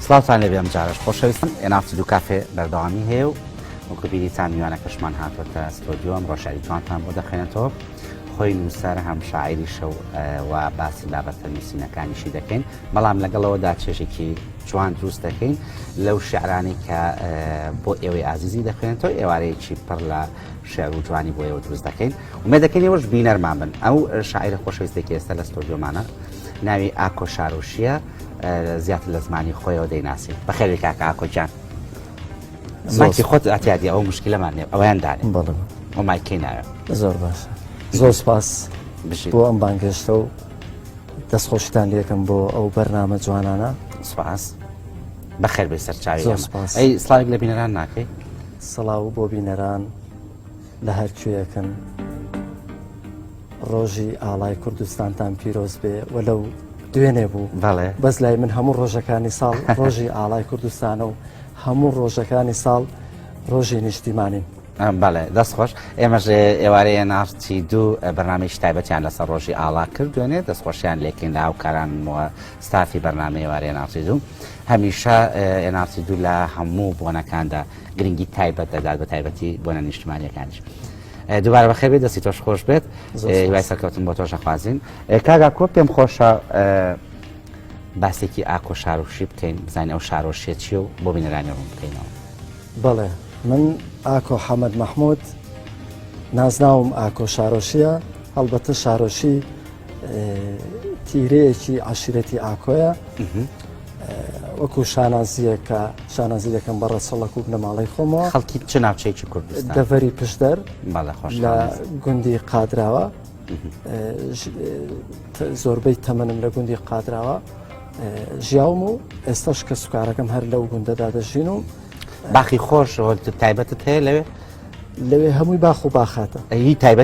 سڵاوتان لێبێ ئەمجارەش خۆشەویستن ئێناف دوو کافێ بەردەوامی هەیە و وەکو بیریتان میوانەکەشمان هاتوەتە ستۆدیۆ ئەمڕۆ شاری جوانتان بۆ دەخێنێتەوە خۆی نووسەر هەم شاعری شەو و باسی بابەتە نووسینەکانیشی دەکەین بەڵام لەگەڵەوەدا چێژێکی جوان دروست دەکەین لەو شعرانی کە بۆ ئێوەی ئازیزی دەخوێنێتەوە ئێوارەیەکی پڕ لە شعر و جوانی بۆ ئێوە دروست دەکەین ومێ دەکەین ئێوەش بینەرمان بن ئەو شاعرە خۆشەویستێکی ئێستا لە ستۆدیۆمانە ناوی ئاکۆ شارۆشیە زیاتر لە زمانی خۆیەوە دەیناسی بەخێری کاکە ئاکۆکیان زۆکی خۆت ئاتیادی ئەو مشکلەمان نێ ئەویان دانێ بەڵم ئۆمایکەی ناوێ زۆر باشە زۆر سپاس بژی بۆ ئەم بانگێشتە و دەستخۆشتان لەکەم بۆ ئەو بەرنامە جوانانە سپاس بەخێر بێ سەرچاوی سپاس ئەی سلاوی لە بینەران ناکەی سڵاو بۆ بینەران لە هەر کوێیەکن ڕۆژی ئاڵای کوردستانتان پیرۆز بێ و لەو دوێنێ بوو بەڵێ بەس لای من هەموو ڕۆژەکانی ساڵ ڕۆژی ئاڵای کوردستانە و هەموو ڕۆژەکانی ساڵ ڕۆژی نیشتیمانین بەڵێ دەست خۆش ئێمەژ ئێوارەیە ناڕچی دوو بەنامی شتایبەتیان لەسەر ڕۆژی ئاڵا کرد دوێنێ دەستخۆشیان لێکین لە هاوکارانەوە ستافی بەنامی ئێوارەیە ناڕچی دوو هەمیشە ئێناڕچی دوو لە هەموو بۆنەکاندا گرنگی تایبەت دەدات بە تایبەتی بۆنە نیشتمانیەکانیش دوبارە بەخێ بێت دەستی تۆش خۆش بێت وای سەرکەوتن بۆ تۆش نەخوازیین کاگا کۆ پێم خۆشە باسێکی ئاکۆ شارۆشی بکەین بزانین ئەو شارۆشیە چی و بۆ بینەرانی ڕوون بکەینەوە بەڵێ من ئاکۆ حەمەد مححمود نازناوم ئاکۆ شارۆشیە هەڵبەتە شارۆشی تیرەیەکی عشرەتی ئاکۆیە وەکو شانازییەک کە شانازی دەکەم بە ڕەچەڵەک و بنەماڵەی خۆمەوە خەڵکی چ ناوچەیەکی کوردستان دەڤەری پشدەر بەڵێ خۆش لە گوندی قادراوە زۆربەی تەمەنم لە گوندی قادراوە ژیاوم و ئێستاش کە سوکارەکەم هەر لەو گوندەدا دەژین و باخی خۆش تایبەتت هەیە لەوێ لەوێ هەمووی باخ و باخاتە ئەوی تایبەت